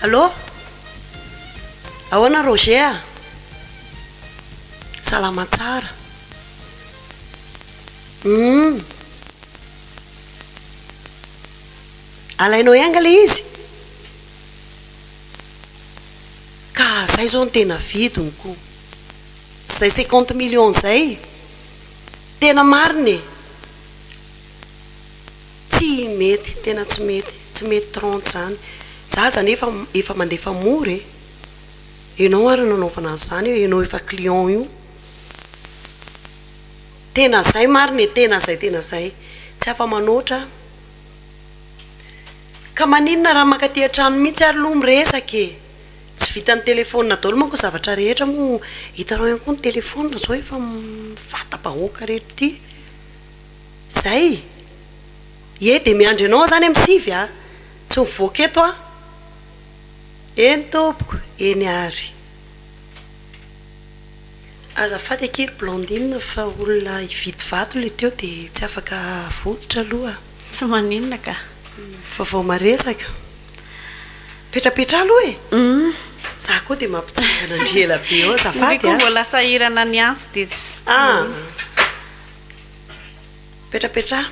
Allô, ahoana Roger a, salama tsara, humm. Alainao enga le izy? Ka zay zao ny tena vidiny ko. Tsy zay cinquante millions zay. Tena marina e. Tsy mety, tena tsy mety, tsy mety trente zany. Za zany efa efa mandefa mora e. Enao ary no nanaovana an'zany eo, enao efa client io. Tena zay marina e, tena zay tena zay, tsy afa manoatra an. Ka maninona raha mankaty an-trano mihitsy ary aloha miresaka e. Tsy vitan'ny telefaonina daholo manko ny zavatra rehetra moa hitanao ihany koa ny telefaonina zao efa mivata-bahoaka reto ty. Zay. Ye dia miandry anao aho izany amin'ny sivy a, tsy mivoaka eto aho. Eny tompoko, eny ary. Azafady akia ry Blandine fa olona hividy vato ilay teo dia tsy afaka avotsitra aloha. Tsy maninona ka. Fa vao maresaka. Petrapetraha aloha e! Za koa dia mampitsangana ndry ela be eo azafady a! Ndry koa mbola sahirana ny antsy dia tsy maninona. Petrapetraha.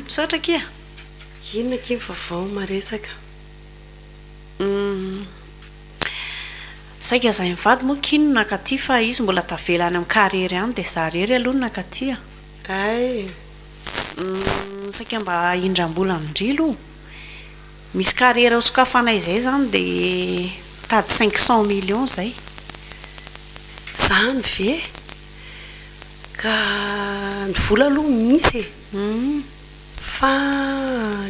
Misaotra akia. Inona akia ny vaovao maresaka. Saika zay mivady moa kin no nakaty fa izy mbola tavela any am karihery any de za rery aloha no nakaty a! Humm saika mba indrambola amin-dry lo! Misy carrière ho sokafanay zay zany de mitady cinq cent millions zay! Zany ve? Ka ny vola aloha misy e! Fa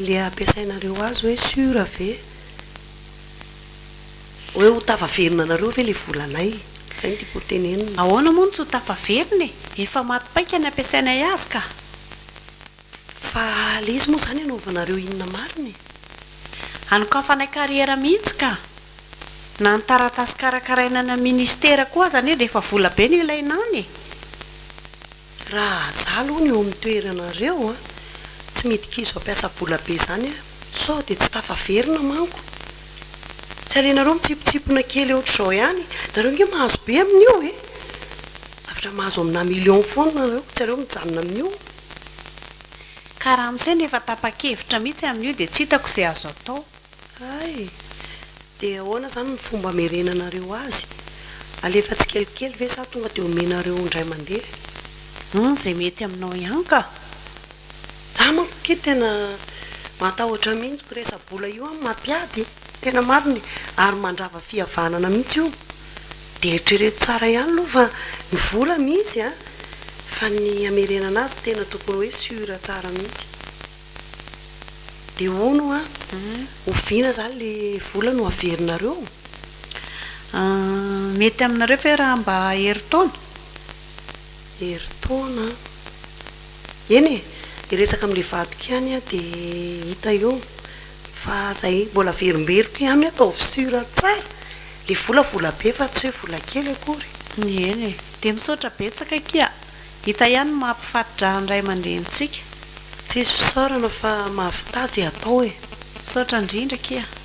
le ampiasainareo azy hoe sur ve? Hoe ho tafaverina anareo ve ilay volanay? Izay no tiako hotenenina. Ahoana moa no tsy ho tafaverina e? Efa maty paika ny ampiasainay azy ka. Fa le izy moa izany hanaovanareo inona marina e? Hanokafanay carrière mihitsy ka. Na ny taratasy karakaraina any amin'ny ministera koa aza anie dia efa vola be no ilaina any e! Raha za aloha no eo amin'ny toeranareo a, tsy midika izy vao mpiasa vola be zany a, sao dia tsy tafaverina manko. Tsy alenareo mitsipotsipona kely ohatr'izao ihany, nareo nge mahazo be amin'io e, zavatra mahazo aminà millions foana nareo, tsy aleo mijanona amin'io. Ka raha am'saina efa tapa-kevitra mihitsy amin'io dia tsy hitako izay azo atao. Hay! Dia ahoana izany no fomba hamerenanareo azy? Alefa tsikelikely ve sa tonga dia omenareo indray mandeha? Hum, izay mety aminao ihany ka! Za manko akia tena matahotra mihintsy ko resa-bola io an, mampiady, tena marina e, ary mandrava fihavanana mihintsy io, de eritrereto tsara ihany aloha fa ny vola misy an, fa ny hamerenana azy tena tokony hoe sur tsara mihintsy. De hono an, oviana zany le vola no averinareo? Mety aminareo ve raha mba herintaona? Herintaona an! Eny e! Hiresaka amin'ilay vadiko ihany aho dia hita eo fa izay mbola averimberiko ihany ataovy sur tsara le vola, vola be fa tsy hoe vola kely akory. Eny e! Dia misaotra betsaka akia! Hita ihany ny maha mpifato-draha ny ray aman-drenintsika. Tsisy fisaorana fa mahavità ze atao e! Misaotra indrindra akia a!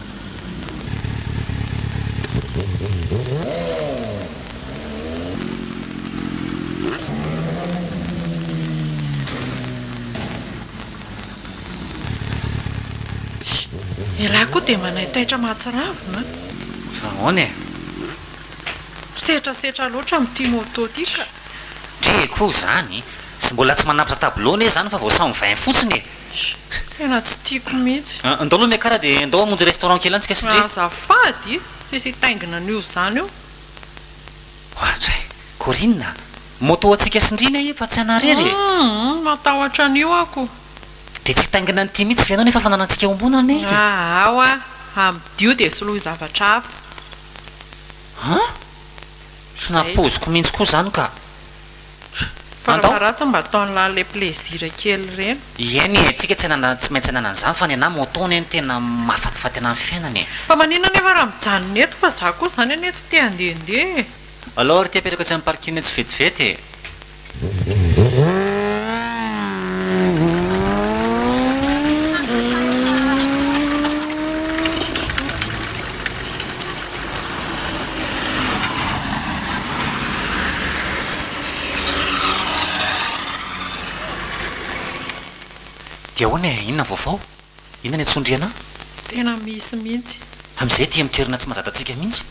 Ialahy koa dia manaitaitra mahatsiravina an! Fa ahoana e? Misetrasetra loatra amin'ity moto ity ka! Trea koa izany! Tsy mbola tsy manapitra tableau anie izany fa vao samy vin fotsiny e! Tena tsy tiako mihitsy. Ndao aloha Mia Kara dia ndao hamonjy restaurant kely any tsika sy Dre. Azafady, tsisy hitaingina an'io zany io. Ohatr'ay. Corinne a! Moto antsika sy Ndry anie fa tsy anà rery e! Humm, matahotra an'io aho ko. Dia tsy hitaingina an'ity mihitsy ve ianao nefa efa nanantsika eo ambony anie ity. Aa oa, amidio dia soloy zavatra hafa. An? Tsy nampoiziko mihitsy koa izany ka. Fara faharatsa mba ataonlah le plaisir kely ireny. Eny e, tsika tsy maintsy anana an'izany fa nenaha moto anie no tena mahafatifaty anah amin'ny fiainana e. Fa maninona anefa raha mijanona eto fa za koa zany anie tsy te handehandeha e. Aleo ary ity apetrako etsy amin'ny parking etsy vetivety e. Dia ahoana e? Inona ny vaovao? Inona ny antsondriana? Tena misy mihitsy. Amin'izay aty amin'ny toerana tsy mahazatrantsika mihitsy.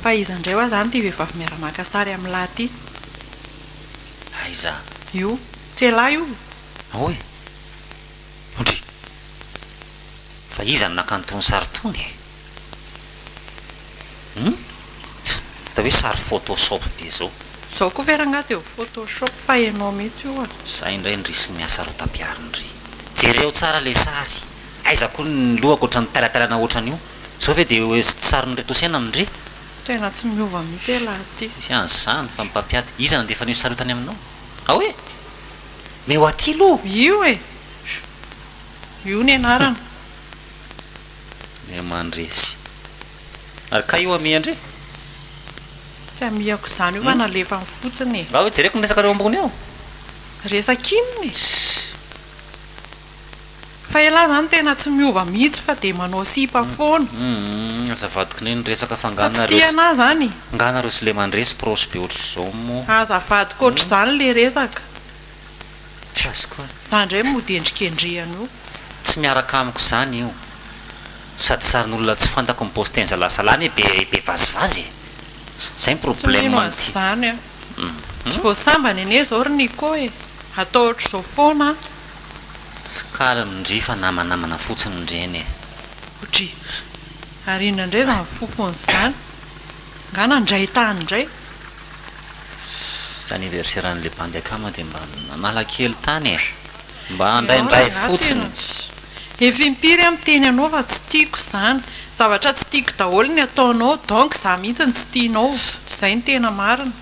Fa iza indray hoa izany ity vehivavy miara-maka sary amin'lah ity? Aiza? Io. Tsy elah io. Ahoa e? Ondry. Fa iza no naka an'itony sary itony e? Hum? Tsy atao hoe sary photoshop be izao. Zao koa ve rangaha dia ho photoshop fa enao mihitsy oa. Zay indray ndry sy ny hasarotam-piaro ndry. Jereo tsara le sary. Aiza koa ny lohako otrany tailatailana otran'io. Zao ve dia hoe sarin'ireto Osena ndry. Tena tsy miova mihitsy elah ty. Tsy an'izany fa ny mpampiady. Iza nandefa an'io sary io tany aminao? Aoe! Mais ho aty lo. Io e! Io ny anarana. Mia mandresy. Ary kay io amia ndry? Tsy amiako izany io fa nalefany fotsiny e. Ngah hoe jereko ny resakareo ambony eo. Resak'inona e? Fa elah zany tena tsy miova mihitsy fa dia manao sipa foana. Humm aza avadikina eny ny resaka fa nga nareo sy nga nareo sy le mandresy proche be otrzao mo. Aza avadika otrzany le resaka. Tsy azoko e. Za ndray mody endrikendrehana io. Tsy miaraka amiko zany io. Sady sarin'olona tsy fantako no posten zalasala anie be be vazivazy e. Zay ny problème amty. Tsy mino anzany an. Tsy voasambany anie zao ry Nico e. Atao otrzao foana an. Kara mindry fa namanamana fotsiny ireny e. Odry. Ary inona indray izany fofony izany? Angaha nandray tany indray? Tsy anniversaire an'ilay bandy akama dia mba nanala kely tany e. Mba handraindray fotsiny. Efa impiry aho miteny anao fa tsy tiako izany. Zavatra tsy tiako daholo ny ataonao donc izaho mihitsy no tsy tianao. Izay no tena marina.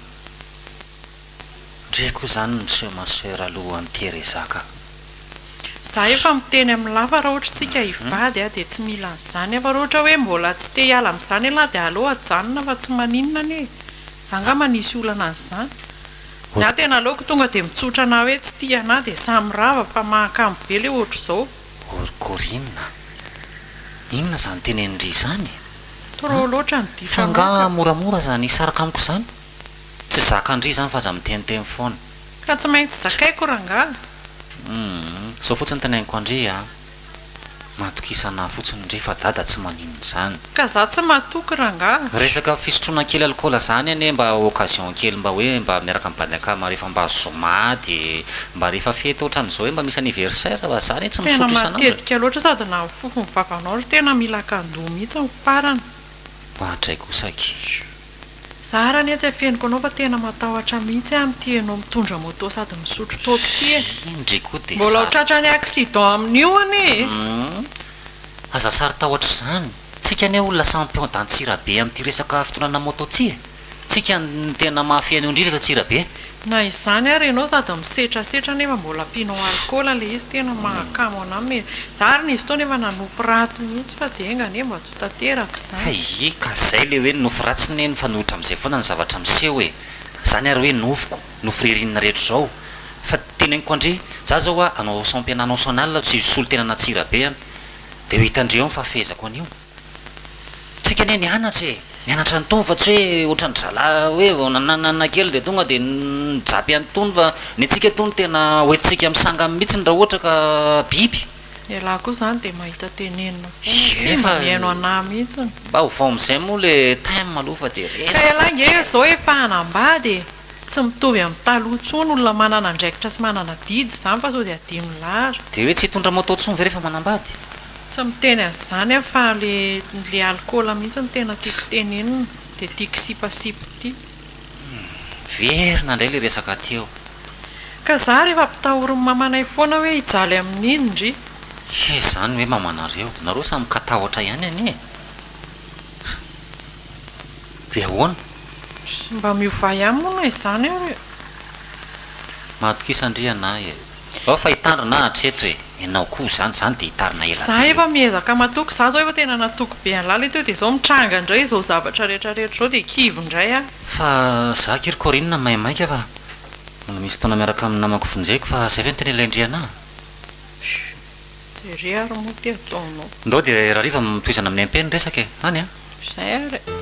Ndry ko zany ny soeur ma soeur alohan Teresa ka. Za efa miteny am lava ra ohatry tsika hivady a de tsy mila anzany a fa ra ohatra hoe mbola tsy te hiala amzany ialahy de aleo ajanona fa tsy maninona anie e za nga ma nisy olana anzany ny ahy tena aleoko tonga de mitsotra na hoe tsy tia anah de samy rava fa mahakamo be le ohatry zao Gorgorina inona zany tenenindry zany e? Trop loatra ny ditramoka. Fa nga moramora aza ny hisaraka amiko zany? Tsy zakan-dry izany fa aza miteniteny foana. Ka tsy maintsy zakaiko rangahy. Humm zao fotsiny teneniko an-dry a! Matokisana ahy fotsiny ndry fa dada tsy manino izany. Ka za tsy matoky rangahy. Resaka fisotroana kely alikaola zany anie mba occasion kely mba hoe mba miaraka amin'ny bande akama rehefa mba zoma de mba rehefa fety otran'izao hoe mba misy anniversaire fa za anie tsy Tena misotro isan'andro e! matetika loatra sady na ny fofon'ny vavanao ry tena mila kandoa mihitsy ny farany. Oadray kosa aky. Za ary anie tsy afeniko anao fa tena matahotra mihitsy aho amin'ity enao mitondra moto sady misotro toaka ity e! Iny re koa dia Mbola ho sary. tratran'ny accident amin'io anie e! Humm! Aza sary tahotra izany. Tsika anie olona samy pion d'Antsirabe amin'ity resaka fitondrana moto ity e! Tsika no tena mahafehy an'io indrindra eto Antsirabe. Na izany ary ianao sady misetrasetra nefa mbola mpino alcool le izy tena mahakamo anah me za ary nisy fotoana efa nanopy ratsy mihitsy fa dia enga anie mba tsy ho tanteraka izany. Hay e, ka zay le hoe nofy ratsy ne mifanohitra amzay foana ny zavatra miseho e, zany ary hoe nofiko, nofy ririnina rehetra izao, fa teneniko andry za zao a, anao sampy anah anao sanala tsy hisolo tena na tsira be a, de ho hitandreo ny fahafehezako anio. Tsika anie nianatra e, nianatra an'itony fa tsy hoe ohatran'ny zalahy hoe vao nananana kely dia tonga dia nijapy an'itony fa ny antsika itony tena hoentintsika amin'ny sangany mihitsiny raha ohatra ka biby. Ialahy koa izany dia mahita tenenina foana, tsy mba mihaino anah mihitsiny. Mba ovao amin'izay moa ilay thème aloha fa dia resaka. Ka ialahy nge izao efa hanambady e. Tsy mitovy amin'ny taloha intsony olona manana andraikitra sy manana adidy izany fa sao dia adino lar. Dia hoe tsy hitondra moto intsony ve rehefa manambady? Tsy miteny an'izany aho fa ilay alikaola mihitsy no tena tiako tenenina, dia tiako sipasipy ity. Miverina indray ilay resaka aty eo. Ka za rehefa ampitahorin'ny mamanay foana hoe hijaly amin'iny ry. He zany hoe mamanareo. Nareo samy mikatahotra ihany anie e. Dia ahoana? Sy mba miovà ihany moa na izany ary e! Matokisa ndry ianay e! Ao fa hitandrina aho hatreto e! Ianao koa izany, izany dia hitarina ela be e! Za efa miezaka matoky, za izao efa tena natoky be an'lala teo dia izao mitranga ndray izao zavatra rehetra rehetra izao dia kivy ndray aho. Fa za akia ry Corine maimaika fa mbola misy fotoana miaraka amin'ny namako vonjeko fa izay ve no tena ilain-dry ianà? Chut. De re ary moa ty ataonao. Ndao dia rariva mitohizana amin'ny MP ny resaka e! Any a! Izay ary e!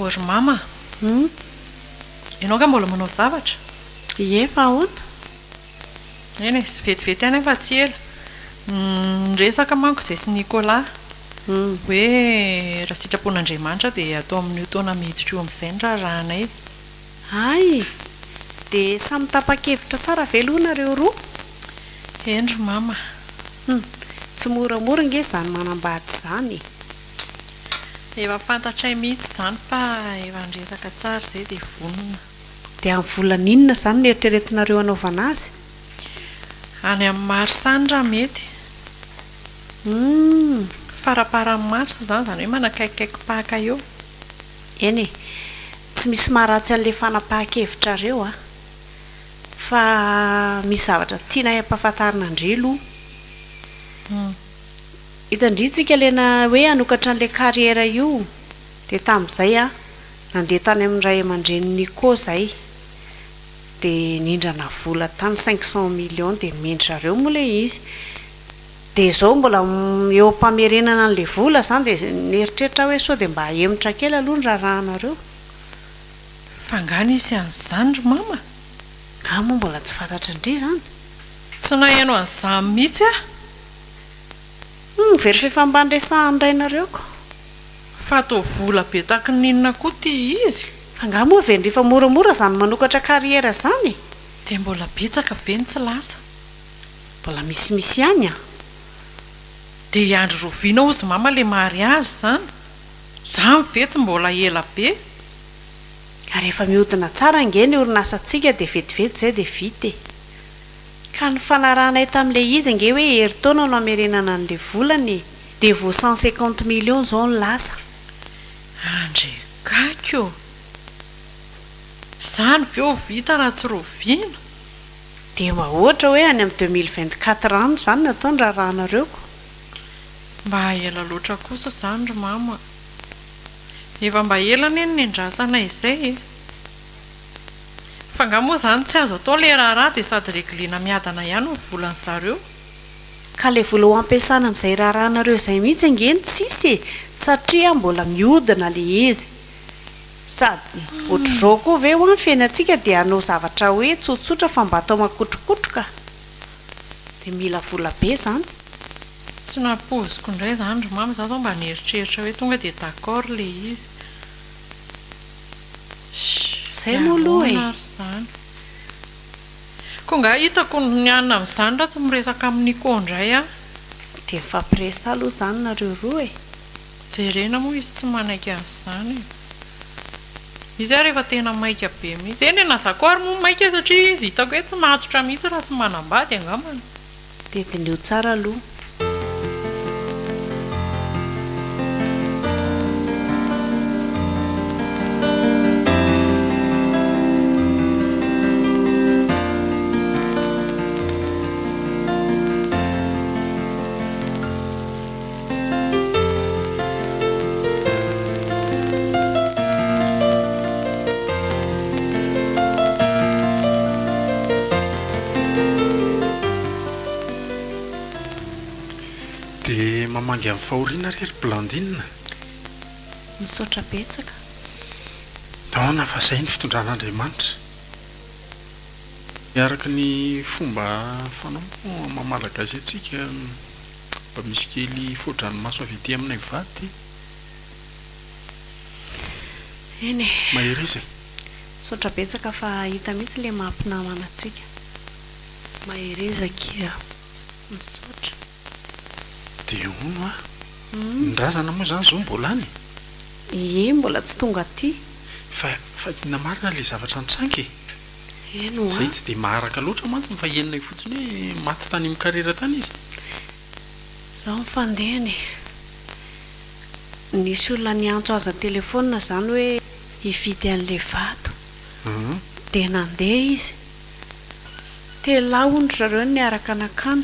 O ry Mama a! Hum. Ianao angaha mbola manao zavatra? Ie, fa ahoana? Eny e, vetivety ihany fa tsy ela. Niresaka manko izahay sy Nicolas hoe raha sitrapon'Andriamanitra dia atao amin'io taona miditra io amin'izay ny raharahanay. Hay! Dia samy tapa-kevitra tsara ve aloha nareo roa? Eny ry Mama. Hum, tsy moramora ange izany manambady izany e! Efa fantatray mihitsy izany fa efa niresaka tsara izay dia vonona. Dia amin'ny volana inona izany no eritreretinareo hanaovana azy? Any amin'ny marsa any raha mety. Humm. Faramparan'ny marsa izany, izany hoe manakaikikaiki-paka eo. Eny e. Tsy misy maharatsy an'ilay fanapahan-kevitrareo an. Fa misy zavatra tianay hampahafantarina an-dry aloha. Humm. Hitan-dry tsika Lena hoe hanokatra an'ilay carrière io. Dia tamin'izay an. Nandeha tany amin'ny ray aman-drenin'i Nico izay dia nindrana vola tany cinq cent millions dia mendry zareo moa ilay izy dia izao mbola eo am-pamerenana an'ilay vola izany dia nieritreritra aho hoe sao dia mba hahemotra kely aloha ny raharahanareo Fa nga nisy an'izany ry mama? Nga moa mbola tsy fantatry ndry izany? Tsy naheno an'izany mihitsy aho. Humm very f'efa mba niresahan-drainareo ko. Fa toa vola be taky ny inona koa ity izy? Angaha moa ve ndry fa moramora izany manokatra carrière izany e? Dia mbola betsaka ve ny tsy lasa? Mbola misimisy ihany an! Dia i Andry Roviana hozy mama le mariage izany? Zany ve tsy mbola ela be? Ary efa mihodina tsara ange ny orinasantsika dia vetivety izay dia vita e! Ka nifanarahanay tamin'ilay izy ange hoe herintaona no hamerenana an'ilay volana e! Dia vao cent cinquante millions zao no lasa. Andre gaga ô! Izany ve ho vita raha tsy rovina? Dia mba ohatra hoe any amin'ny deux mille vingt quatre any izany no atao ny raharahanareo ko. Mba ela loatra kosa izany ry mama a! Efa mba ela anie no niandrasana izay e! Fa nga moa izany tsy azo atao ilay raharaha dia sady reglena miadana ihany ny volan'zareo? Ka ilay vola ho ampiasana amin'izay raharahanareo izay mihitsy ange no tsisy e! satria mbola mihodina ilay izy. Sady ohatr'izao koa ve hoa ny fiainantsika dia hanao zavatra hoe tsotsotra fa mba atao makotrokotroka? Dia mila vola be izany. Tsy nampoiziko indray izany ry mama, izaho izao mba nieritreritra hoe tonga dia d'accord ilay izy. Sh, dia ahoana ary izany? Ko nga hitako ny an amin'izany raha tsy miresaka amin'i Nico ndray an. Dia mifampiresaha aloha izany nareo roa e. Jerena moa izy tsy manaiky an'izany e. Izy ary efa tena maika be mihitsy. Eny na za koa ary moa maika satria izy hitako hoe tsy mahatotra mihitsy raha tsy manambady angambany. Dia diniho tsara aloha. Dia mamangy amin'ny fahoriana re ry Blandine. Misaotra betsaka. Ahoana fa izay ny fitondran'Andriamanitra. Miaraka ny fomba fanao moa maha malagasy antsika. Mba misy kely foa-dranomaso avy ety aminay va ty? Eny e. Mahereza e. Misaotra betsaka fa hita mihitsy ilay maha mpinamana antsika. Mahereza kia. Misaotra. Dia hono a. Ny razana moa izany izao mbola any e? Ie, mbola tsy tonga aty. Fa fa ina marina ilay zavatra nitranga e? Izay tsy dia maharaka loatra mantsy ny fahienina io fotsiny hoe maty tany amin'ny karera tany izy. Izao ny fandehany e. Nisy olona niantso azy an-telefaonina izany hoe hividy an'ilay vato. Dia nandeha izy. Telo lahy hono ry zareo no niaraka nankany.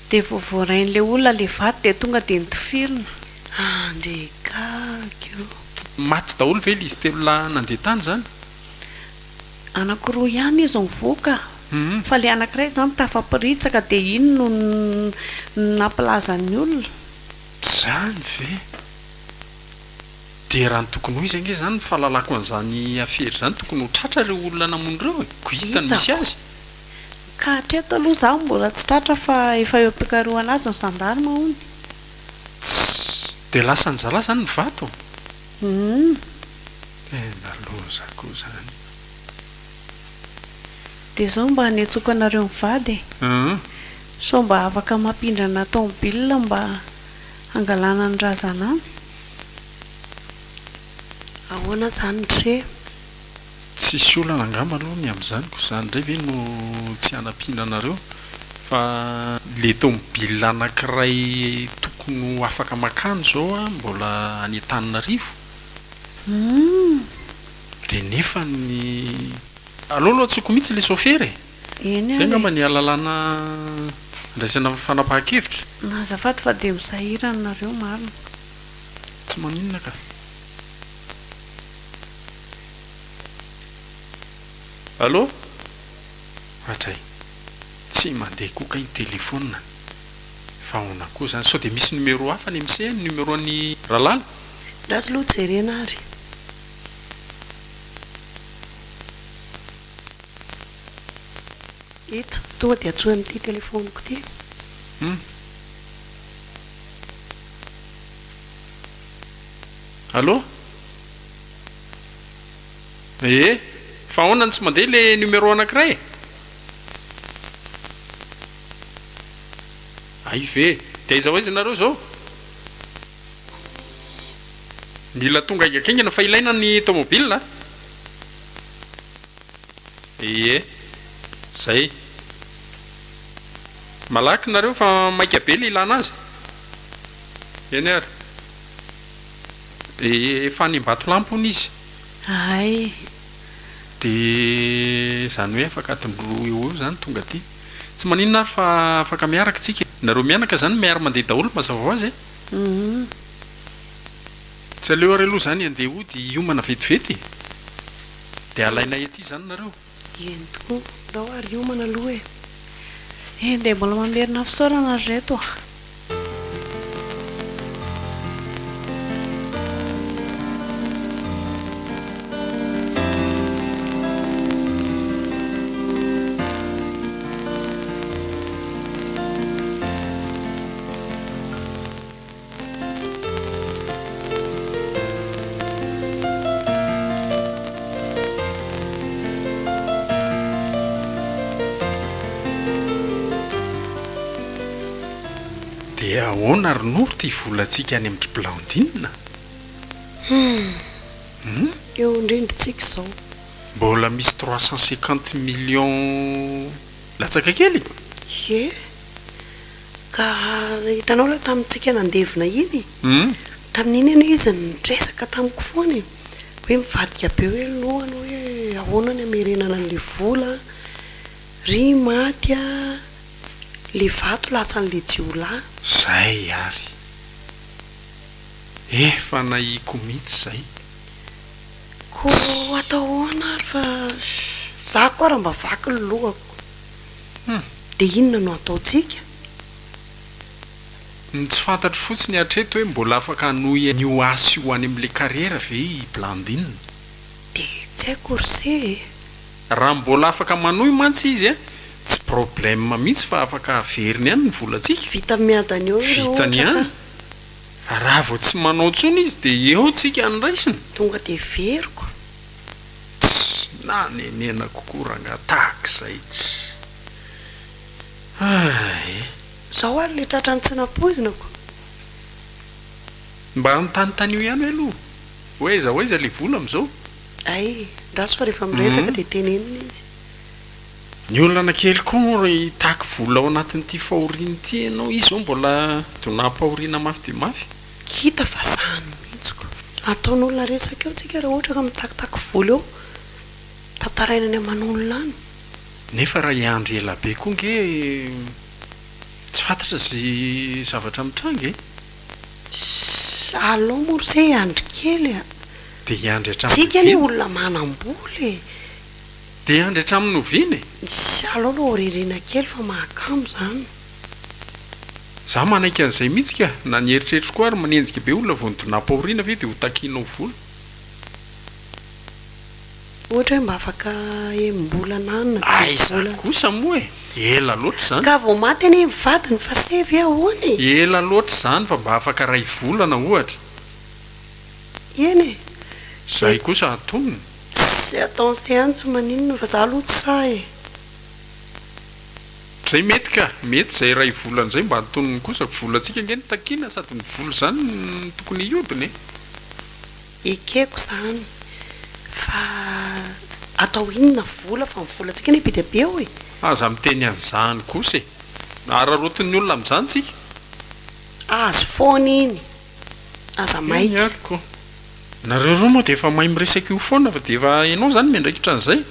Dia vao voarain'ilay olona ilay vato dia tonga dia nitifirina. Andry gaga o! Maty daholo ve ilay izy telo lahy nandeha tany izany? Anako roa ihany izy nivoaka fa ilay anankiray izany tafaporitsaka dia iny no nampilazan'ny olona. Izany ve? Dia raha ny tokony ho izy ange izany ny fahalalako an'izany afera izany tokony ho tratra ireo olona namono ireo e! Ko hita ny misy azy. Hitako. Ka hatreto aloha izaho mbola tsy tratra fa efa eo am-pikarohana azy ny zandarma hono. Tss! Dia lasan'ny zalahy izany ny vato? Humm. Tena loza ko zany e. Dia zao mba anetsoko anareo mivady e. Sao mba afaka mampindrana tomobile mba hangalana ny razanany? Ahoana zany re? Tsisy olana angamba aloha ny amin'izany ko zany indray ve no tsy hanampiana anareo fa le tomobile anakiray tokony ho afaka makany zao mbola any Antananarivo? Dia nefa ny aleo aloha antsoiko mihitsy ilay sôfera e! Izay angamba ny alalana andraisana fanapahan-kevitra. Azafady fa dia misahirana nareo marina. Tsy maninona ka. Allo? Hatray. Tsy mandeha koa kay ny téléphone-ny. Fa ahoana koa izany? Sao dia misy numéro hafa any amin'ny se? Ny numéro an'i Ralala? Ratsy aloha jerena ary. Eto tonga dia antsoy amin'ity telefaoniko ity. Hum. Allô? Ee, fa ahoana no tsy mandeha ilay numéro anankiray e? Hay ve? Dia aiza ho aiza ianareo izao? Mila tonga haingankaingana fa ilaina ny tomobila a! Ie, zay. Malaky nareo fa maika be le ilana azy. Eny ary. Ie, efa any Ambatolampy hono izy. Ahay. Dia zany hoe afaka adiny roa eo ho eo zany tonga aty. Tsy maninona ary fa afaka miaraka tsika e! Nareo mianaka zany miara-mandeha daholo mazava ho azy e! Tsy aleo ary aloha izany handeha hody hiomana vetivety e! Dia alainay aty izany nareo. Eny tokoa, ndao ary hiomana aloha e! Eny dia mbola mamerina fisaorana ry reto a! Dia ahoana ry Noro ity volantsika any amin-dry Blandine a? Hum, eo indrindrintsika izao. Mbola misy trois cent cinquante millions latsaka kely? Ie. Ka hitanao ilay tamintsika nandevina iny, tamin'iny anie izy nitresaka tamiko foana e, hoe mivadika be hoe ny lohany hoe ahoana ny hamerenana an'ilay vola an, ry maty a, ilay vato lasan'ilay jiolahy. Zay ary. Efa nahiko mihitsy zay. Ko atao ahoana ary fa za koa ary mba vaky ny lohako. Hum! Dia inona no hataontsika? Ny tsy fantatro fotsiny hatreto hoe mbola afaka hanohy ny ho ahy sy ho any amin'ilay kariera ve i Blandine? Dia tsy haiko ry se e! Raha mbola afaka manohy mantsy izy an! Tsy problème mihitsy fa afaka averiny any ny volantsika! Vita miadana eo ireo ohatra ka! Vitany ihany! Raha vao tsy manao intsony izy dia eo tsika any raisina! Tonga dia averiko! Tsy nanenenako koa rangaha tahak'izay tsy Ay. Zao ary le tratran'ny tsy nampoizinako. Mba anontanontanio ihany hoe aloha hoe aiza ho aiza le vola amzao? Ay, ndraso fa rehefa miresaka dia tenenina izy. Ny olana kely koa moa raha hitaky vola ao anatin'ity fahoriana ity ianao, izy zao mbola donam-pahoriana mafy dia mafy. Hita fa sahy ny mihitsiko. Ataon'olona resaka eo tsika raha ohatra ka mitakitaky vola eo. Tantaraina any aman'olona any. Nefa raha hiandry ela be koa nge tsy fantatra ze zavatra mitranga e! Ssy alou moa r'se hiandry kely a! Dia hiandry hatramin'ny oviana? Tsika anie olona manam-bola e! Dia hiandry hatramin'ny oviana e! Ssy alou aloha ho ririana kely fa mahakamo izany. Za manaiky an'izay mihitsy ka, na ny eritreritro koa ary manenjika be olona vao ny donam-pahoriana ve dia ho takiana ho vola? Ohatra hoe mba afaka enim-bolana any na telo volana. Aiza kosa moa e! Ela loatra izany. Ka vao maty anie ny vadiny fa se ve ahoana e! Ela loatra izany fa mba afaka ray volana ohatra. Eny e! Izay kosa antonony. Tsy ataon'se any tsy maninona fa za aloha tsy sahy e! Zay mety ka! Mety zay iray volana zay mba antonony kosa, volantsika ange no takiana sady ny vola zany no tokony hiodina e! Ekeko zany fa atao inona vola fa ny volantsika anie be dia be ao e! Aza miteny an'izany kosa e! Araraotin'ny olona amin'izany tsika. Azy foana iny, aza maika. Eny ary ko! Nareo roa moa dia efa mahay miresaka io foana fa dia efa enao zany miandraikitra an'izay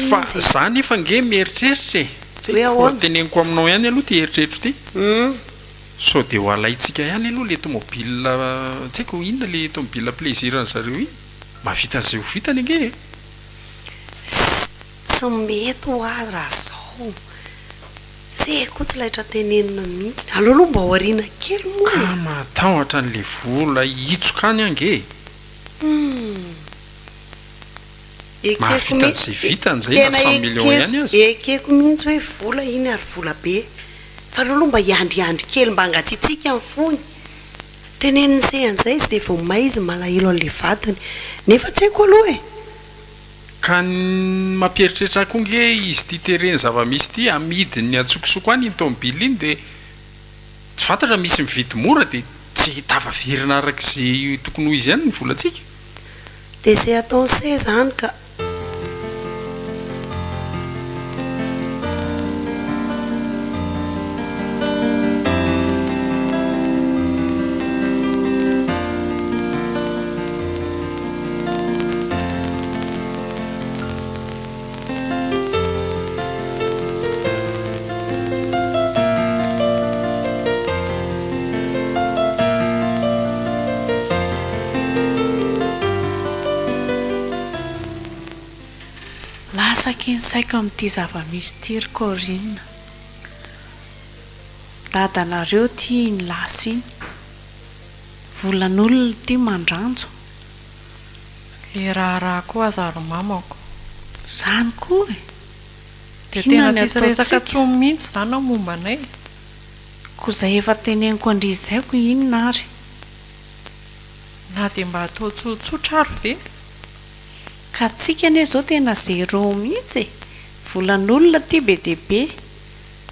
fa za nefa ange mieritreritra e! tsy haiko raha teneniko aminao ihany aloha ity eritreritro ity sao dia ho alaintsika ihany aloha le tomobile tsy haiko inona le tomobile plaisir an'i zareo iny mahavita an'izay ho vitany ange e! Tsy mety ho ahy raha zao. Tsy hay koa tsy laitra tenenina mihitsy. Aleo aloha mba aoriana kely moa e! Ka mahatahotra an'ilay vola hihitsoka any ange e! Humm. Mahavita an'izay vitany izay na cent millions ihany aza. Ekeko mihitsy hoe vola iny ary vola be. Fa aleo aloha mba hiandriandry kely mba hangatsiatsiaka ny fony. Teneniny seha an'izay izy dia vao may izy malahelo an'ilay vadiny. Nefa tsy haiko aloha e! Ka ny mampieritreritra ahy koa nge izy ity tereny zavamisy ity amidiny ny antsokosoko any iny tomobile iny dia tsy fantatra misy mividy mora dia tsy tafaverina araka izay tokony ho izy ihany ny volantsika. Dia izay ataony se izany ka. Lasaky ny saiko amin'ity zava-misy ity ry Corine. Dadanareo ity iny lasa iny. Volan'olona ity mandranjo le raharaha koa aza ry mamako. Zany koa e! Dia tena tsy hisy resaka tsony mihintsy zany ao momba anay e! Ko zay efa teneniko andrizy zay ko inona ary? Na dia mba atao tsotsotra ary ve? Ka antsika anie zao tena zero mihintsy e! Volan'olona ity be dia be!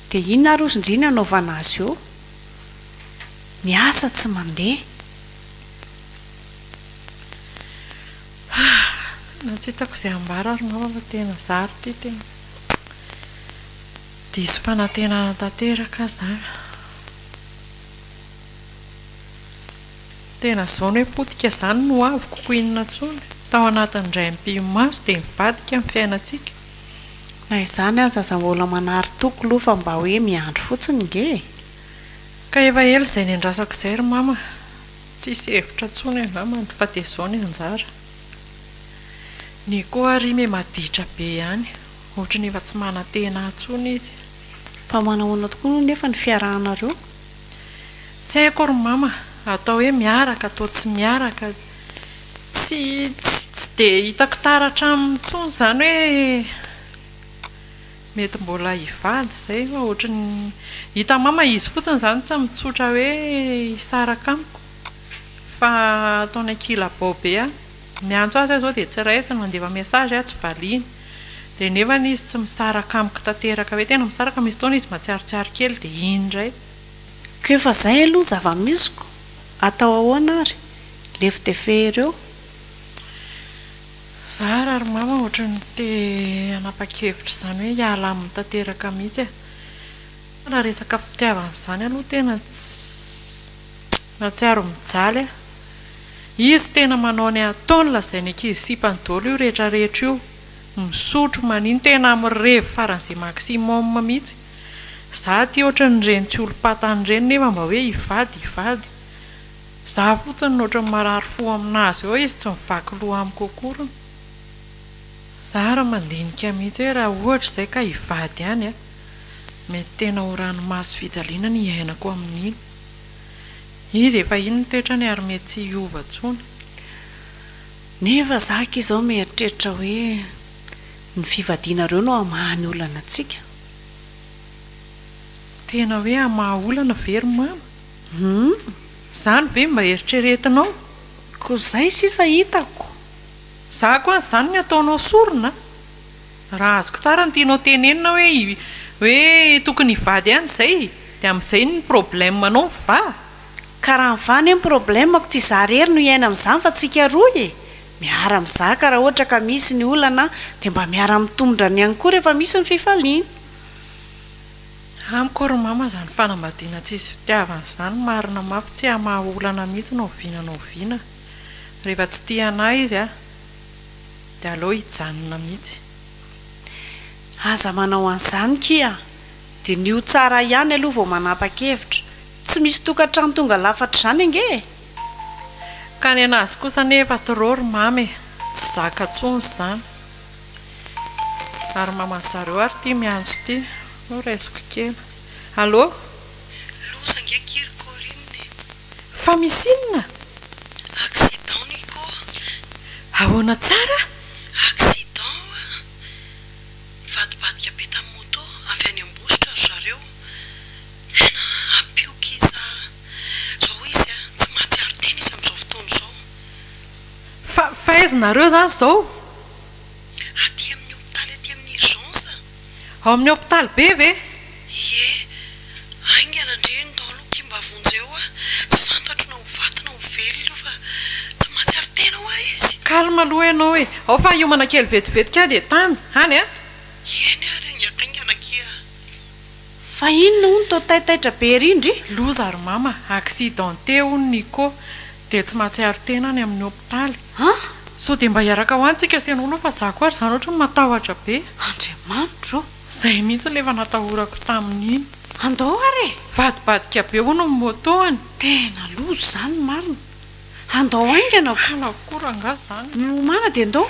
Dia inona ary ozy ndry ny anaovana azy eo? Ny asa tsy mandeha. Na tsy hitako izay ambara ary mama fa tena za ary ity tena diso fanantenana tanteraka aza an. Tena izany hoe potika izany no avy koa inona intsony. Tao anatin'ny indray ampimaso dia mivadika ny fiainantsika. Na izany aza aza mbola manary toky loha fa mba hoe miandry fotsiny nge e! Ka efa ela izay niandrasako izay ry mama, tsisy hevitra tsony angambany fa dia izao ny anjara. Ny koa ary me maditra be ihany, ohatry ny efa tsy manantena ahy tsony izy. Fa manahoana tokoa no nefa ny fiarahanareo? Tsy haiko ry mama, atao hoe miaraka, atao tsy miaraka. Tsy tsy dia hitako taratra aminy intsony izany hoe mety mbola hivady izay fa ohatran'ny hitan'i mama izy fotsiny izany tsy mitsotra hoe hisaraka amiko fa ataony an-kilabao be aho. Miantso azy aho izao dia tsy raisiny, mandefa message aho tsy valiany. Dia nefany izy tsy misaraka amiko tanteraka hoe tena misaraka, misy fotoana izy mahatsiarotsiaro kely dia iny indray. Ko efa zay aloha zavamisy ko atao ahoana ary lefy de fehery eo. Za raha ry mama ohatran'ny te hanapa-kevitra izany hoe hiala aminy tanteraka mihitsy e. Fa raha resaka fitiavana izany aloha tena tsy mahatsiaro mijaly aho. Izy tena manao ny ataony lazainy ankizy sipany daholo io rehetra rehetra io, misotro, manino, tena mirevy faran'izay maximum mihitsy. Za aty ohatran ireny tsy olom-patany ireny nefa mba hoe hivady hivady. Za fotsiny no ohatran'ny marary fo aminazy ao izy tsy mivaky loha amiko akory. Za ary mandinika mihitsy hoe raha ohatra izay ka hivady ihany a! mety tena ho ranomaso fijaliana ny iainako amin'iny. Izy efa iny ny toetrany ary mety tsy hiova intsony. Nefa za aky izao mieritreritra hoe ny fivadianareo no hamaha ny olana antsika. Tena hoe hamaha olana ve ry mama? Humm! Izany ve mba eritreretinao? Koa izay sisa hitako! Za koa an'izany ny ataonao sorona a! Raha azoko tsara ny tianao tenenina hoe hoe tokony hivady ihany izay dia amin'izay ny problème anao mivaha? Ka raha mivaha anie ny problème-ko tsy za irery no hiaina amin'izany fa tsika roa e! Miara mizaka raha ohatra ka misy ny olana dia mba miara mitomdra ny ihany koa rehefa misy ny fifaliana. Amiko ry mama zany fanambadiana tsisy fitiavana zany marina mafy tsy hamaha olana mihitsy na oviana na oviana rehefa tsy tia anah izy a dia aleo hijanona mihitsy. Aza manao an'izany kia! Diniho tsara ihany aloha vao manapa-kevitra. Tsy misy tokantrano tonga lafatra izany ange e! Ka ny anazy kosa anefa trop ry mama e! Tsy zaka tsony izany. Ary maman zareo ary ity miantso ity. Ho raisiko kely. Allô? Loza ange akia ry Corine e! Fa misy inona? Accident ny ko! Ahoana tsara? Accident oa! Nivadibadika be tamin'ny moto avy any Ambositra ry zareo. Tena hampioky izy sa zao hoy izy a tsy mahatsiaro tena izy amin'izao fotoana izao. Fa fa aiza nareo izany izao? Aty amin'ny hopitaly aty amin'ny urgence. Ao amin'ny hopitaly be ve? Ie. Haingana ndry ny daholo aty mba vonjeo aho. Tsy fantatro na ho faty na ho velona io fa tsy mahatsiaro tena hoa izy. Calme aloha ianao e. Ao fa hiomana kely vetivety kay dia tamy, any a. Eny ary haingahaingana akia. Fa inona hono to taitaitra be ery ndry? Loza ry mama, accidenté hono Nico, dia tsy mahatsiaro tena any amin'ny hopitaly. An! Sao dia mba hiaraka ho any tsika sy ianao aloha fa za ko ary zany ohatran'ny matahotra be. Andriamanitra ô! Zay mihitsy ilay efa natahorako tamin'iny. Andao ary e! Vadibadika be hono ny moto-any. Tena loza izany ny marina. Andao haingana ko. Halako koa rangah zany. Miomana dia ndao.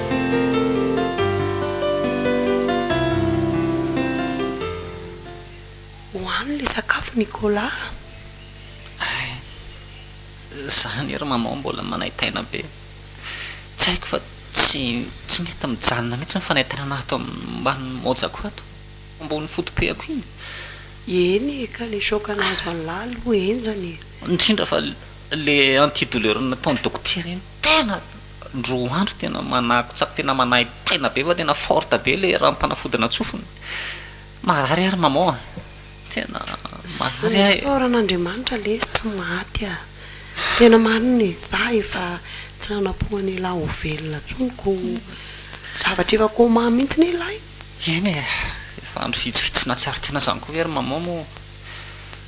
Hohano le sakafo Nicolas a! Ay, zany ry maman mbola manaitaina be. Tsy haiko fa tsy tsy mety mijanona mihitsy ny fanaitainana ato ambany mojako ato, ambony foto-pehako iny. Eny e, ka le choc nahazo an'i Lala aloha henjana e. Indrindra fa le antidouleur nataon'i dokotera iny tena Roa andro tena manako tsara tena manahy paina be fa tena forte be le ranom panafodina tsofiny marary ary maman a tena marary ahy e. Isaorana Andriamanitra lesy tsy maty a! Tena marina e! Za efa tsy nanampo an'ialahy ho velona tsony ko zavatra efa coma mintsy ne ilay. Eny e! Efa andro vitsivitsy nahatsiaro tena zany ko ve ry maman moa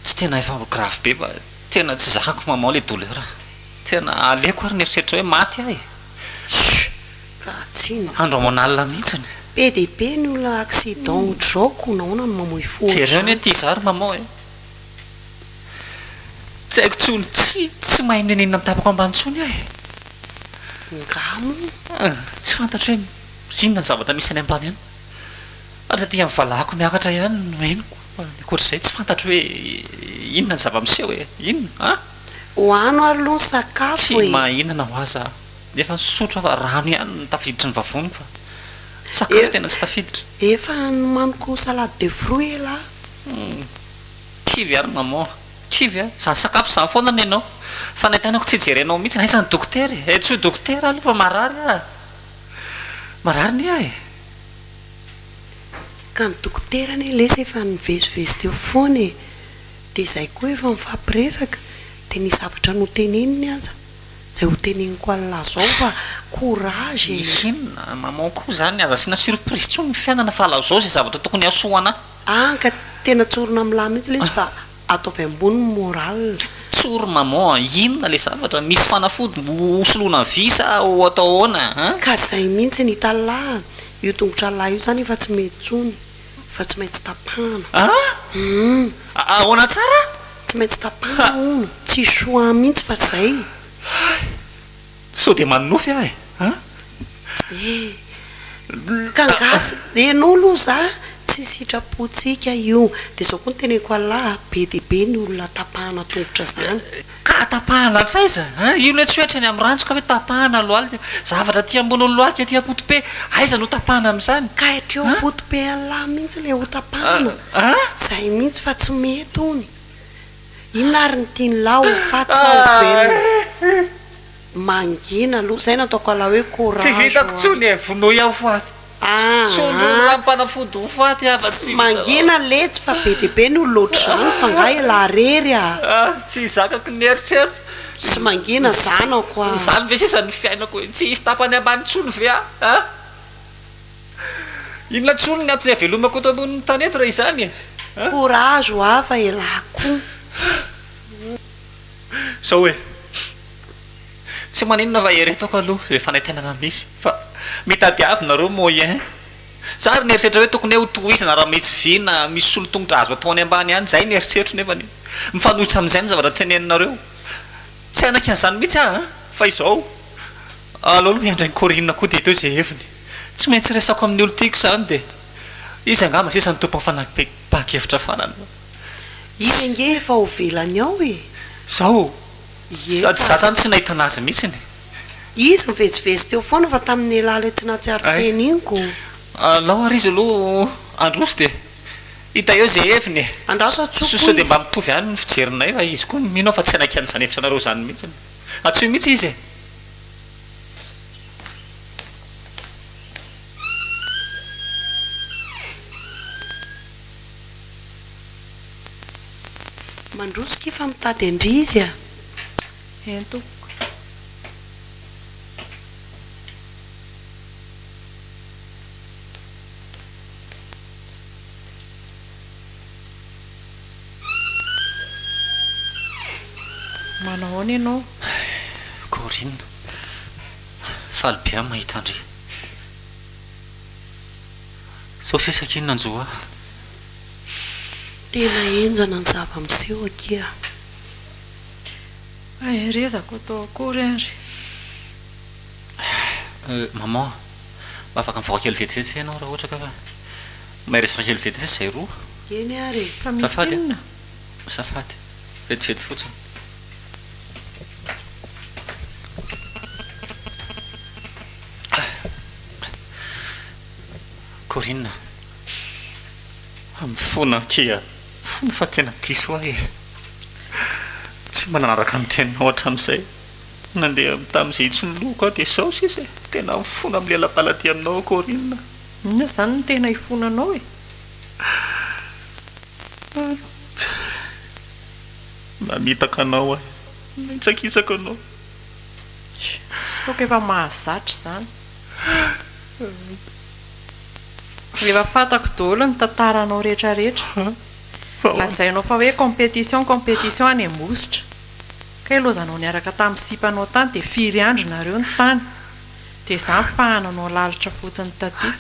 tsy tena efa grave be fa tena tsy zakako maman le douleur a! Tena aleoko ary ny eritreritra hoe maty aho e! Chut! Raha tsy ny. Andro aman'alina mihitsiny. Be dia be ny olona accident otrzao ko nahoana no mamoy fo otrzany. Jereo ny aty izaho ry maman e! Tsy haiko intsony tsy tsy mahay mininina ny tapako ambany intsony aho e! Ngaha moa. Hum! Tsy fantatro hoe inona ny zavatra misy any ambany any. Ary taty amin'ny valahako miakatra ihany no henoko fa ny ankoatr'izay tsy fantatro hoe inona ny zava-miseho e! Inona? An? Ho ano ary loha ny sakafo e! Tsy mahahinana ho aza aho nefa nisotro aho fa rano ihany no tafiditry ny vavoniko fa sakafo tena tsy tafiditra. Efa nomaniko salade de fruit elah. Humm. Kivy ary maman. Kivy a! Izany sakafo izany foana no enao. Fa nay tenako tsy jerenao mihitsy. Aiza ny dokotera e? Entsoy dokotera aloha fa marary aho e! Marary anie aho e! Ka ny dokotera anie lesy efa nivezivezy teo foana e! Dia izay koa efa nifampiresaka dia ny zavatra noteneniny aza izay ho teneniko anlah zao fa courage e. Misy inona maman koa zany aza asiana surprise tsony ny fiainana fa lazao izay zavatra tokony hasoa anah. An ka tena tsorina aminlah mihitsy ilay izy fa ataovy ambony ny morale. Tsory maman a! Inona le zavatra? Misy fanafody ho soloana vy sa ho atao ahoana an? Ka zay mihitsy ny itanlah a! Io tongotrallah io zany efa tsy mety tsony. fa tsy maintsy tapahana. An! Ahoana tsara? Tsy maintsy tapahana hono, tsy choix mihitsy fa zay. Hay! Sao dia manonofy aho e! An! E! Ka angaha tsy Enao aloha za tsy sitrapontsika io, dia zao koa no teneniko Allah, be dia be ny olona tapahana tongotra zany. Ka tapahana hatraiza? Hein? Io le tsy oe hatreny am ranjo ka oe tapahana lohalika. Zavatra aty ambony lohalika aty apotope aiza no tapahana am zany? Ka hatreo apotope Allah mintsy le ho tapahana. Zay mintsy fa tsy mety ony. Inona ary ny tiany lah ho faty sa ho velona? Mangina aloha. Zay no ataoko Allah oe courage ho anao. Tsy vitako tsony e, vonoy aho faty. Tsondrony ra mpanafody ho faty hava tsy mangina letsy fa be dia be no lôtry zareo fa nga elah rery a. Ah tsy zakako ny eritreritra. Tsy mangina zanako a. Izany ve sisa ny fiainako e. Tsy hisy tapany ambany intsony ve aho a. Inona intsony ny antony havelomako eto ambonin'ny tany eto raha izany e a. Courage ho aho fa elah kou. Zao e. Tsy maninona raha eritako aloha zay fanaintainana misy fa mitadiavo nareo moyen za ary nieritreritra hoe tokony ho tohizana raha misy vy na misy solotongotra azo atao any ambany any zay ny eritreritro nefany mifanohitra amizay ny zavatra teneninareo tsy hanaiky anizany mihitsy aho an fa izao aleo aloha hiandry an'i Corine koa dia atao izay heviny tsy maintsy resako amin'ny olon-tiako izany dia izy angamba sisa no tompon'ny fanapahan-kevitra farany Izy ange efa ho velany ao e! Zao. Ie fa. Sady za zany tsy nahita anazy mihitsy e. Izy mivezivezy teo foana fa tamin'iny elah ilay tsy nahatsiaro teny iny ko. Alao ary izy aloha handroso dia hita eo izay heviny e. Andraso an-tsoa koa izy. Sao dia mba mitovy ihany ny fijerinay fa izy koa mino aho fa tsy hanaiky an'izany hevitranareo izany mihitsy. Antsoy mihitsy izy e. Mandroso kay fa mitady an-dry izy a! Eny tompoko. Manao ahoana ianao? Corine, faly be aho mahita an-dry. Sao sesaka iny nanjo ahy. Tena henjana ny zava-miseho akia. Maherezako atao akory ary. Euh, maman, mba afaka mivoaka kely vetivety ve ianao raha ohatra ka fa maherezaka kely vetivety izay roa? Eny ary e. Fa misy inona? Azafady, vetivety fotsiny. Ah. Corinne, amin'ny fona akia fona fa tena diso ahy e! Tsy mba nanaraka ny teninao hatramin'izay, nandeha tamin'izay intsony ny lohako aho dia izao sisa e! Tena mifona amin'ny lelam-paladia aminao aho Corinne. Inona izany no tena ifonanao e? Corinne, Mamitaka anao aho e! Mihitsakitsaka anao. Hitako efa mahazatra izany. Efa fantako daholo ny tantaranao rehetra rehetra. Lazainao fa hoe compétition, compétition any Ambositra. Kay lozanao niaraka tamin'ny sipanao tany dia firy andro nareo no tany. Dia izany fahananao lalitra fotsiny taty.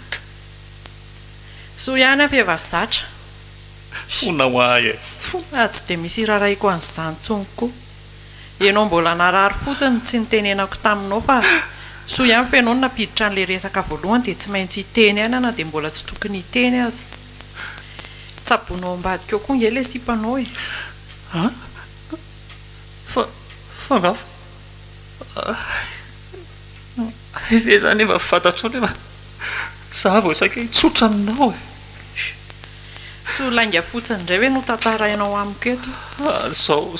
Soa ihany aho fa efa zatra. Fona ho ahy e. Fona, tsy dia misy irarahiako an'izany intsony koa. Enao mbola narary fotsiny tsy nitenenako taminao fa soa ihany fa enao no nampiditra an'ilay resaka voalohany dia tsy maintsy hiteny aina na dia mbola tsy tokony hiteny aza. Tsaboinao ambadika ao koa nge ilay sipanao e. Ah? Fa, fa nga fa, hay ve zany efa fantatrao nefa za vao saika hitsotra aminao e. Tsy ho lainga fotsiny indray ve no tantarainao amiko eto?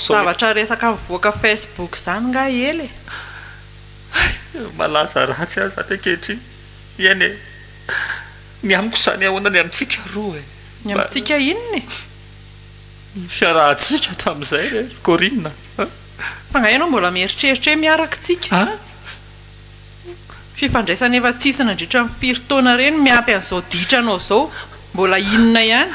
Zavatra resaka mivoaka Facebook izany nga ela e! Hay! Malaza ratsy aho izany ankehitriny. Miaina e! Ny amiko izany ahoana ny amintsika roa e? Ny amintsika inona e? Ny fiarahantsika hatramin'izay re ry Corine a! Fa nga ianao mbola mieritreritra hoe miaraka tsika? Fifandraisana efa tsy hisy nandritra ny firy taona ireny miampy an'izao ditra anao izao. Mbola inona ihany?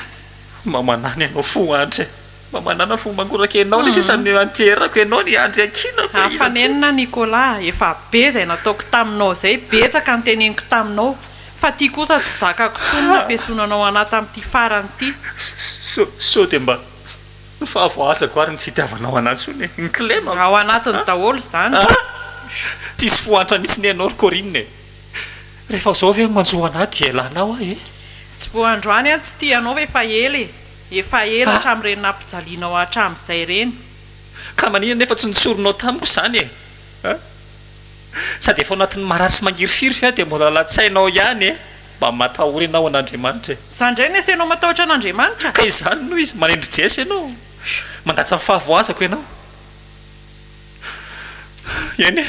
Mamanana ianao fo Andry eh! Mamanana fo mangoraka ianao le sisa no iantierako ianao ny Andry iankinako eh! Iza tsia? Afanenina Nicolas ah! Efa be izay nataoko taminao izay, betsaka ny teneniko taminao, fa ty kosa tsy zakako intsony ny hampiesonanao an'ahy tamin'ity farany ity. Sao dia mba Fa voazako ary ny tsy itiavanao anah intsony e! Ny kilema moa. Ao anatiny daholo izany. Ah! Tsisy fohantra mihitsy ny anao ry Corine e! Rehefa izao ve no manjo anah dia elanao aho e! Tsy vao androany aho tsy tia anao ve fa ela e! Efa ela hatramin'ireny nampijalianao ahy hatramin'izay ireny. Ka maninona nefa tsy notsorinao tamiko izany e! Ah! Sady efa ao anatin'ny marary sy mangirifiry ve aho dia mbola lalan-tsainao ihany e! Mba matahory ianao an'Andriamanitra e! Izany indray no esenao matahotra an'Andriamanitra? Ka izany no izy, manendry Jesy ianao, mangatsa ny fahavoazako ianao. Eny e!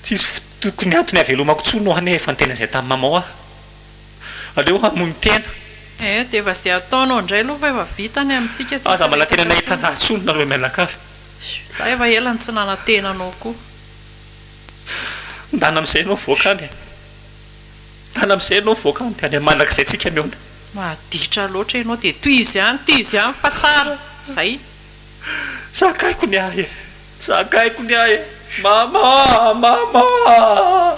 Tsy hisy tokony antony havelomako intsony ho any efa niteny an'izay tamin'i Mamao aho. Aleo hamono tena. Ee, dia efa izay ataonao indray aloha fa efa vita ny amintsika, tsy hisy hiresaka intsony. Aza manantena ny hahitana ahy intsony nareo mianakavy. Izaho efa ela no tsy nanantena anao koa. Ndana amizay enao voaka any e. Ndana amizay enao voaka any de any manakizay tsika miona. Maditra loatra ianao dia tohizo ihany tohizo ihany fa tsara. Zay. Za akaiko ny ahy e. Za akaiko ny ahy e. Mama a! Mama a!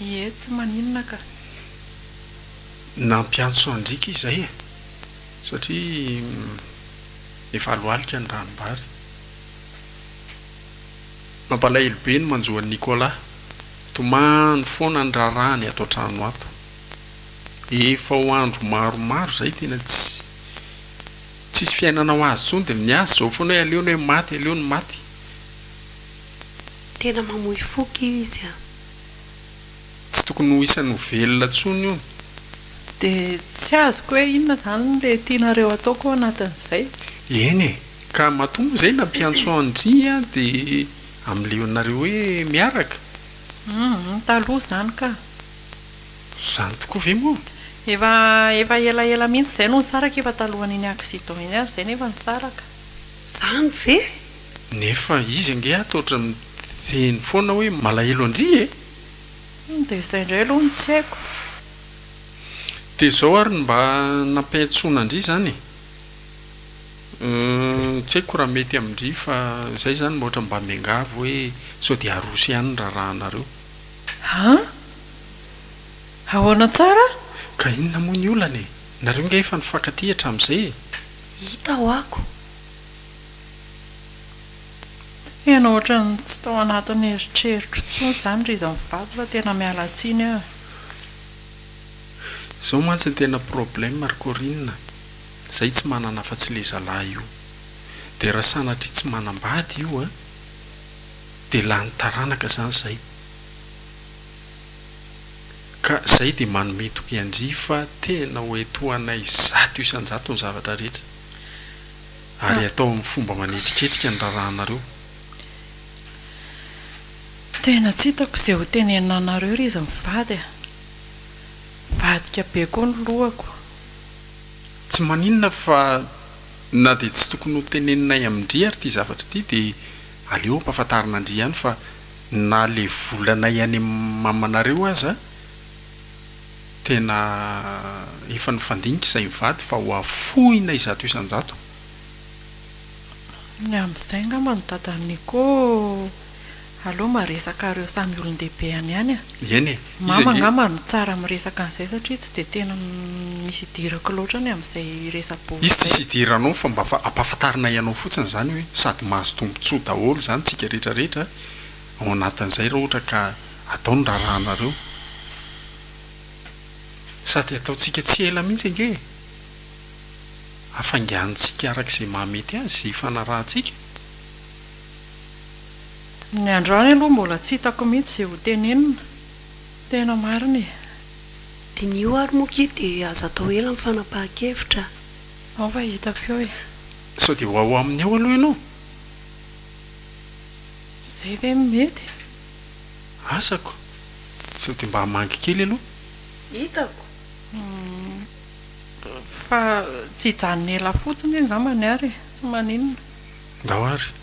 Ie tsy maninona ka. Nampiantso an-driaka izay e! satria efa alohalika ny ranom-bary. Mampalahelo be ny manjo an'i Nicolas. Tomany foana ny raharahany ato an-trano ato. Efa ho andro maromaro izay tena tsy tsisy fiainana ho azy intsony dia ny azy izao foana hoe aleo ny hoe maty, aleo ny maty. Tena mamoy foko izy a! Tsy tokony ho isan'ny ho velona tsony hono. Dia tsy azoko hoe inona izany ilay tianareo ataoko ao anatin'izay? Eny e! Ka matoa moa izay nampiantso an-dry aho dia amleonareo hoe miaraka? Humm, taloha izany ka! Izany tokoa ve moa? Efa efa elaela mihitsy izay no nisaraka, efa talohan'iny accident iny ary izay nefa nisaraka. Izany ve? Nefa izy ange ato ohatra miteny foana hoe malahelo an-dry e! Humm dia izay indray aloha no tsy haiko. Dia izao ary no mba nampiantsoana an-dry izany e! Humm tsy haiko raha mety amin-dry fa izay izany mba ohatra mba miangavy hoe sao dia aroso ihany ny raharahanareo. An! Ahoana tsara? Ka inona moa ny olana e! Nareo ange efa nifankatia hatramin'izay e! Hita ho'ako. Tena ohatran'ny tsy tao anatin'ny eritreritro intsony izany ry izy mivady fa tena miala tsiny aho e. Zao mantsy ny tena problème ry Corine, zay tsy manana afa tsy le zalahy io. De raha sanatria tsy manambady io a, de lany taranaka zany zay. Ka zay de manome toky an-dry fa tena ho etohanay zato isan-jato ny zavatra rehetra. Ary atao amin'ny fomba manetriketrika ny raharahanareo. Tena tsy hitako izay ho tenenina anareo ry izy mivady a! Mivadika be koa ny lohako. Tsy maninona fa na dia tsy tokony ho teneninay amin-dry ary ity zavatra ity dia aleo ampahafantarina an-dry ihany fa na ilay volanay any amin'ny mamanareo aza tena efa nifandinika izay mivady fa ho afohina izato isan-jato. Ny amin'izay angamba ny dadan'i Nico aleo mba resaka ireo samy olon-dehibe any ihany a! Eny e! Mama angamba no tsara miresaka an'izay satria tsy dia tena misy idirako loatra ny amin'izay resa-bolo izay. Izy tsisy idiranao fa mba ampahafantarinay anao fotsiny izany hoe sady mahazo tombontsoa daholo izany tsika rehetra rehetra a! Ao anatin'izay raha ohatra ka atao ny raharahanareo. Sady ataontsika tsy ela mihitsy ange e! Hafainganintsika araka izay mahamety azy izay ifanarahantsika. Ny androany aloha mbola tsy hitako mihitsy izay ho tenenina. Tena marina e! Diniho ary moa ki dia aza atao ela ny fanapahan-kevitra a! Ao fa hitako eo e! Sao dia ho ao aminy eo aloha ianao? Zay ve no mety? Asako. Sao dia mba hamangy kely aloha. Hitako. Fa tsy hijanona ela fotsiny angambany ary e. Tsy maninona. Ndao ary.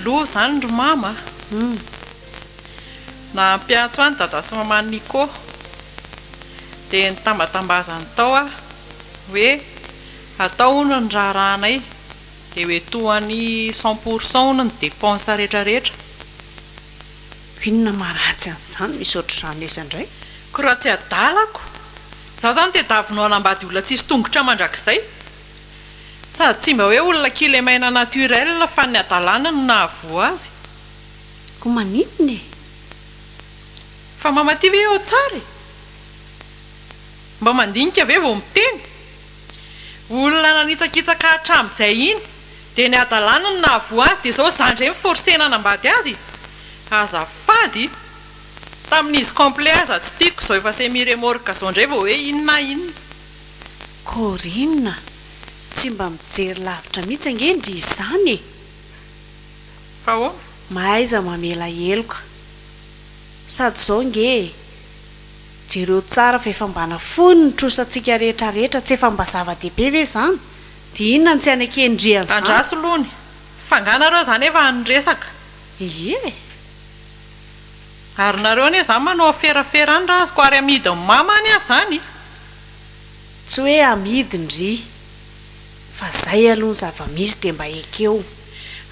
Lo zany ry mama a! Nahampy antso an dada sy maman Nico dia nitambatambazany tao aho hoe atao hono ny raharahanay. Dia ho etohany cent pour cent hono ny dépenses rehetra rehetra. Ko inona ma ratsy an'izany misy ohatr'izany etsy indray. Ko raha tsy adalako. Za zany tedavy no hanambady olona tsisy tongotra mandrakizay. Sady tsy mba hoe olona kilemaina naturelle fa ny adalana no nahavoa azy. Ko maninona e? Fa mamatia ve eo tsara e? Mba mandinika ve vao miteny? Olona nanitsakitsaka hatramin'izay iny dia ny hadalany no nahavoa azy dia izao zandry indray mi-forcer-na hanambady azy e! Azafady! Tamin'izy complet aza tsy tiako izao efa semi remorque izao indray vao hoe inona inona. Corine, tsy mba mijery lavitra mihitsy ange ndry izany e! Fa ahoana? Mahaiza mamela heloka sady izao nge e! Jereo tsara fa efa mba nafoiny ny trosantsika rehetra rehetra, tsy efa mba zava-dehibe ve izany? Dia inona no tsy anekendrian'izany? Andraso lony, fa nga nareo zany efa any resaka? Ie e! Ary nareo anie zany manao aferafera any ra azoko, ary amidin'i mama any aza zany? Tsy hoe amidiny ry. Fa zay aloha ny zava-misy dia mba ekeo.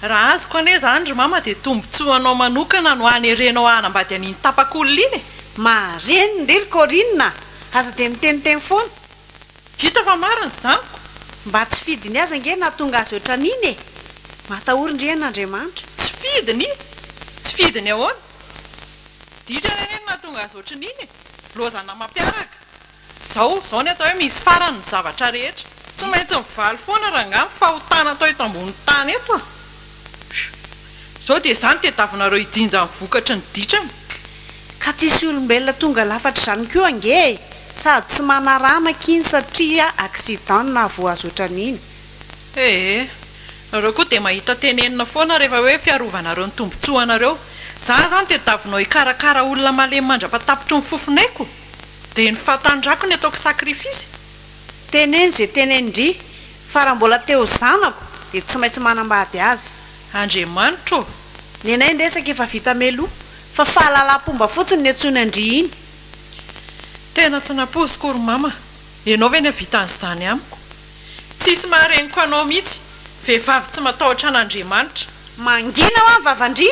Raha azoko anie izany ry mama dia tombotsoa anao manokana no hanerenao hanambady an'iny tapak'olona iny e! Mareniny re ry Corine a! Aza dia miteniteny foana. Vita fa marina zy amiko. Mba tsy fidiny aza ange nahatonga azy ohatran'iny e! Matahory ndry an' Andriamanitra. Tsy fidiny? Tsy fidiny ahoana? Ditrany anie no nahatonga azy ohatran'iny e! Lozana mampiaraka. Zao, zao ny atao hoe misy farany ny zavatra rehetra. Tsy maintsy mivaly foana rangaha ny fahotana atao eto ambony tany eto a! Zao dia izany tediavinareo hijinja ny vokatry ny ditrany. Ka tsy hisy olombelona tonga lafatra izany koa ange e! Sady tsy manaramak iny satria accident no nahavoazy otran'iny. Ee, nareo koa dia mahita tenenina foana rehefa hoe fiarovanareo ny tombotsoanareo. Za zany tediavinao hikarakara olona malemy mandrapatapitry ny fofonaiko? Dia ny fahatanjako ny ataoko sacrifice. Teneno ze tenenin-dry, fa raha mbola te ho zanako dia tsy maintsy manambady azy. Andriamanitra ô! Nenay ny resaka efa vita meloa, fa fahalalam-pomba fotsiny ny antsoiny an-dry iny. Tena tsy nampoiziko ry mama, ianao ve ny hahavita an'izany amiko? Tsisy mahareniko anao mihitsy, vehivavy tsy matahotra an'Andriamanitra. Mangina hoa ny vavan-dry,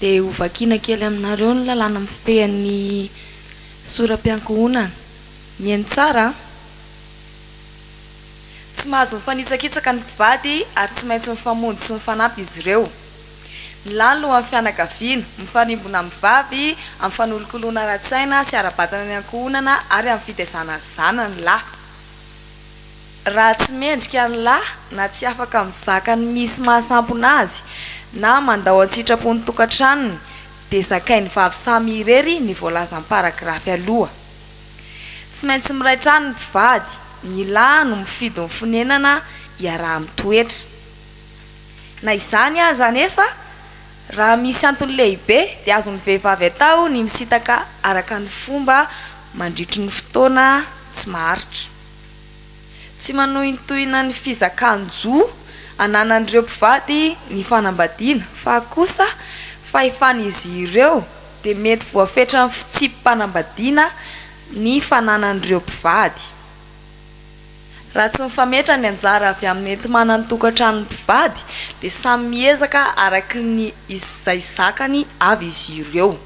Dia hovakiana kely aminareo ny lalàna mifehy ny soram-piankohonana. Mihaino tsara an! Tsy mahazo mifanitsakitsaka ny mpivady ary tsy maintsy mifamonjy sy mifanampy izy ireo. Ny lahy lohan'ny fianakaviana, mifarimbona amin'ny vavy amin'ny fanolokoloana ara-tsaina sy ara-batana ny ankohonana ary amin'ny fitaizana ny zanany lahy. raha tsy mendrika ny lahy na tsy afaka mizaka ny misy mahasampona azy na mandao an-tsitrapo ny tokantranony dia zakain'ny vavy samy irery ny voalazan'ny paragrafy aloha. Tsy maintsy miray trano ny mpivady, ny lahy no mifidy ny fonenana iaraha-mitoetra. Na izany aza anefa, Raha misy antony lehibe dia azon'ny vehivavy atao ny misintaka araka ny fomba mandritry ny fotoana tsy maharitra. Tsy manohintohina ny fizakan-jo ananan'ireo mpivady ny fanambadiana fa kosa fahefan'izy ireo dia mety voafetran'ny fitsipi-panambadiana ny fananan'ireo mpivady. Raha tsy mifametra ny anjara avy amin'ny enti-manan-tokantranon'ny mpivady dia samy miezaka araky ny izay zakany avy izy ireo.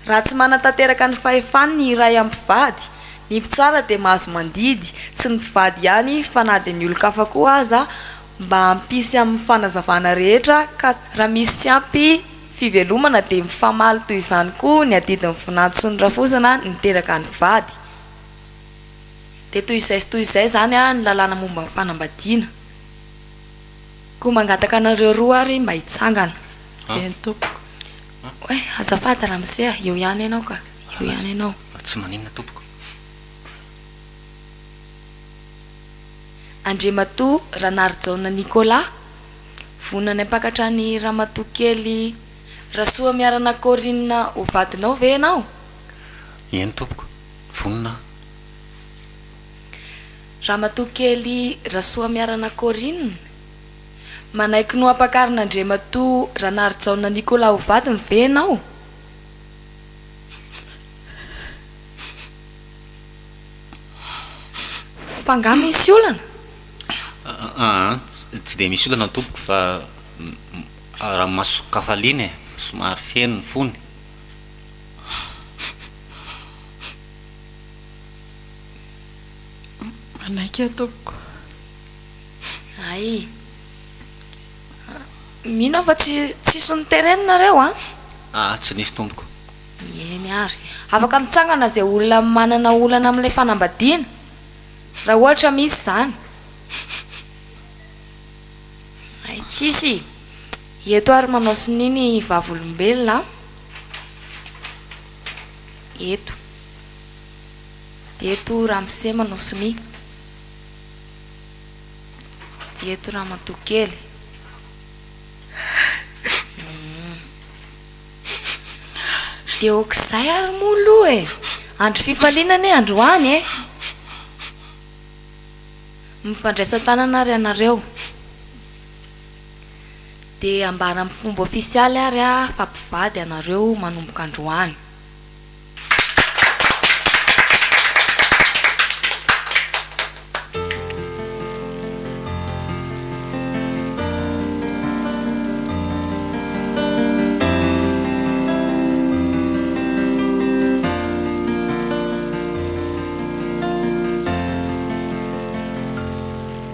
Raha tsy manatanteraka ny fahefany ny iray amin'ny mpivady, ny mpitsara dia mahazo mandidy, tsy ny mpivady ihany fa na dia ny olon-kafa koa aza, mba hampisy amin'ny fanazavana rehetra ka raha misy tsy ampy fivelomana dia mifamaly toy izany koa ny adidin'ny vinanto sy ny rafozana niteraka ny mpivady. Dia toy izay sy toy izay izany ny lalàna momba ny fanambadiana. Koa mangataka anareo roa ary mba hitsangana. Eny tompoko. Oay, azafady ramose a, eo ihany ianao ka, eo ihany ianao. Fa tsy maninona tompoko. Andriamatoa Ranarijaona Nicolas, vonona ny hampakatra an'i Ramatoakely Rasoamiarana Corine ho vadinao ve ianao? Eny tompoko. vonona aho. Ramatoa Kely Rasoamiarana Corine, Manaiky noampakarin'Andriamatoa Ranarijaona Nicolas ho vadiny ve ianao? Fa angaha misy olana? Aa, tsy dia misy olana tompoko fa raha masok'hafaliana e, somary feno ny fony. Manaiky aho tompoko. Hay. Mino aho fa tsy tsisy ny terrain nareo an? Aa tsy nisy tompoko. Eny ary. Afaka mitsangana izay olona manana olana amin'ilay fanambadiana, raha ohatra misy izany. Hay tsisy. Eto ary manao sonia ny vavolombelona an. eto eto ramosema no sonia eto ramatoa kely dia okizay ary moa aloha e andro fifaliana anie androany e mifandraisan-tanana ary ianareo Dia ambara amin'ny fomba ofisialy ary fa mpivady ianareo manomboka androany.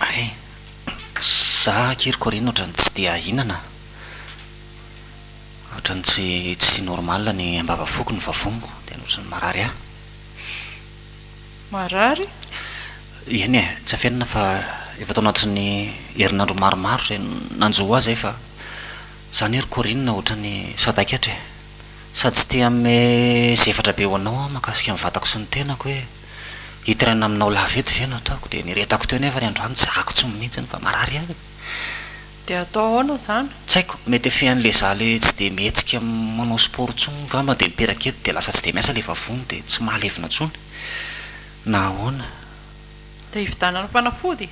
Hay, za akery Corine otrany tsy dia ahinana a! Otrany tsy tsy normal ny ambava foko ny vavoniko dia otrany marary ahy. Marary? Eny e, tsy afenina fa efa tao anatin'ny herinandro maromaro zay no nanjo ho ahy zay fa zany ry Corine otrany sadaikatra e! Sady tsy te hanome zefatra be ho anao aho mahakasika ny vatako sy ny tenako e! Hitirana aminao lava eto ve no ataoko? Dia niretako teo nefa ry androany tsy zakako tsony mihitsy fa marary ahy e! Dia hatao ahoana izany? Tsy haiko, mety efehan'ilay za ilay tsy dia mihetsika manao sport tsony ngamba dia miteraka eto dia lasa tsy dia miasa ilay vavony dia tsy mahalevona tsony na ahoana? Dia hividanana fanafody?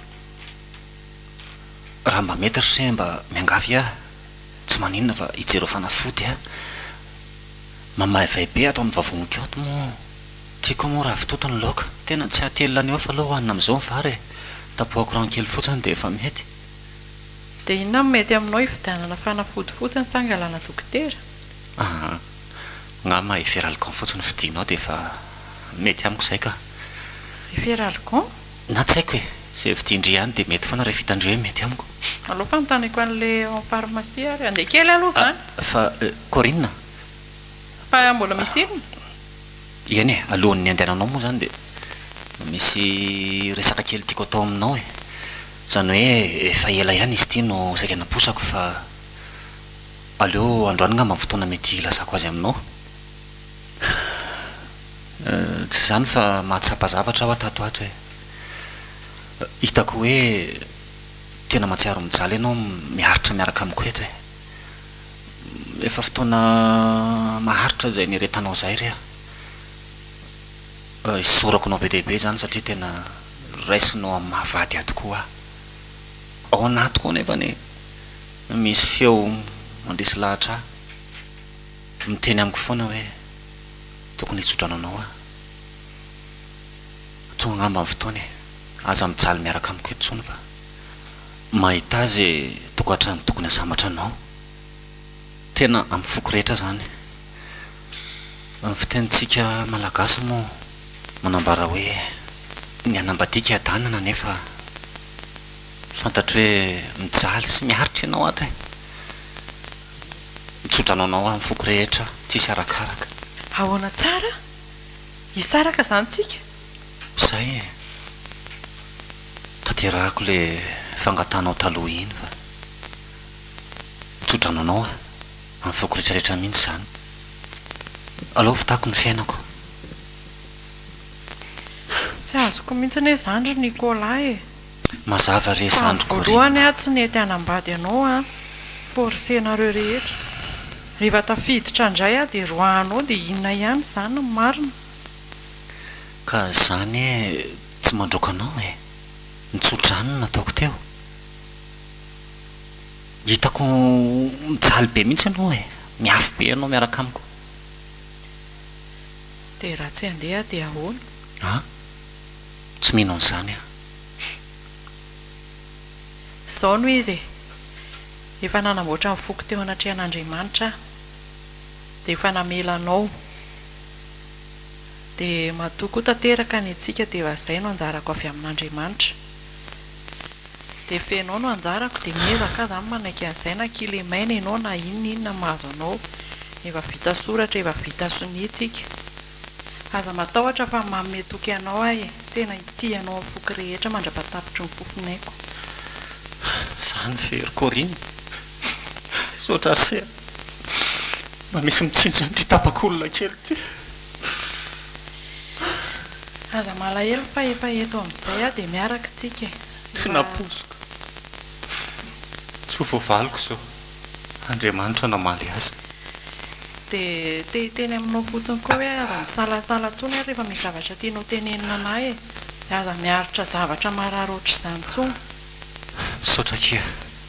Raha mba mety ry se mba miangavy ahy, tsy maninona fa hijereo fanafody aho, mamaivay be ato amin'ny vavoniko ato moa. Tiako moa ravitoto ny laoka. Tena tsy hatelina any off aloha hohanina amin'izao ny vary e! Tapohako rano kely fotsiny dia efa mety. Dia inona no mety aminao hividianana fanafody fotsiny sa angalana dokotera? Aa! Angamba Efferalgan fotsiny fidinao dia efa mety amiko izay ka! Efferalgan? Na tsy haiko e! Izay vidin-dry ihany dia mety foana rehefa hitan-dry hoe mety amiko. Aleo fanontaniako an'ilay ao amin'ny farmasia ary. Andeha kely aloha izany! Fa, Corine? Fa mbola misy inona? Eny e, alohan'ny handehananao moa izany dia misy resaka kely tiako atao aminao e. Izany hoe efa ela ihany izy ity no saika naposako fa aleo androany angamba ny fotoana mety hilazako azy aminao. Tsy izany fa mahatsapa zavatra aho tato ho ato e. Hitako hoe tena mahatsiaro mijaly ianao miaritra miaraka amiko eto e. Efa fotoana maharitra izay nieretanao izay re a! Mba isaorako anao be dia be izany satria tena raisinao amin'ny maha vady ahy tokoa aho. Ao anatiko ao anefany no misy feo mandresy lahatra ahy, miteny amiko foana hoe tokony hitsodrano anao aho. Tonga angamba ny fotoana e! Aza mijaly miaraka amiko eto intsony fa. Mahita azy e tokantrano tokony asambatra anao tena am foko rehetra zany ny fitenintsika malagasy moa manambara hoe ny hanambadiaka adanana nefa fantatro hoe mijaly sy miaritra ianao ato e mitsodrano anao am foko rehetra tsisy arakaraka. Ahoana tsara? Hisaraka zany tsika? Zay e! Tanterahako le fangatahanao taloha iny fa tso-drano anao aho amin'ny foko retraretra mihitsy zany. Aleo hofitako ny fiainako. Tsy azoko mihitsy anie zany ry Nicolas e! Mazava re zandriko Rina a! Fa voalohany aho tsy nety hanambady anao an! Forcer nareo rehetra. Rehefa tafiditra ndray aho dia roahanao dia inona ihany izany ny marina? Ka za anie tsy mandroaka anao e! Nitso-drano ny nataoko teo. Hitako mijaly be mihitsy ianao e! Miafy be ianao miaraka amiko. Dia raha tsy handeha aho dia ahoana? A! Tsy mino an'izany aho. Izao no izy e! Efa nanamboatra ny foko teo anatrehan'Andriamanitra aho, dia efa namela anao. Dia matoa koa tanteraka ny antsika dia va zay no anjarako avy amin'Andriamanitra. Dia fenao no anjarako dia miezaka aza amin'ny manaiky an'izay na kilemaina ianao na inona inona mahazo anao. Efa vita soratra efa vita sonia antsika. Aza matahotra fa manome toky anao aho e. Tena hitia anao amin'ny foko rehetra mandrapatapitry ny fofon'aiko. Zany ve ry Corine? Misaotra Ase a! Mba misy mitsinjo an'ity tapak'olona kely ity. Aza malahelo fa efa eto amin'izay aho dia miaraka isika e! Tsy nampoiziko. Soa vao valiko izao. Andriamanitra namaly azy. Dia te hiteny aminao fotsiny koa hoe aza misalasala intsony ary rehefa misy zavatra tianao tenenina an'ahy e! Aza miaritra zavatra marary ohatr'izany intsony. Misaotra akia.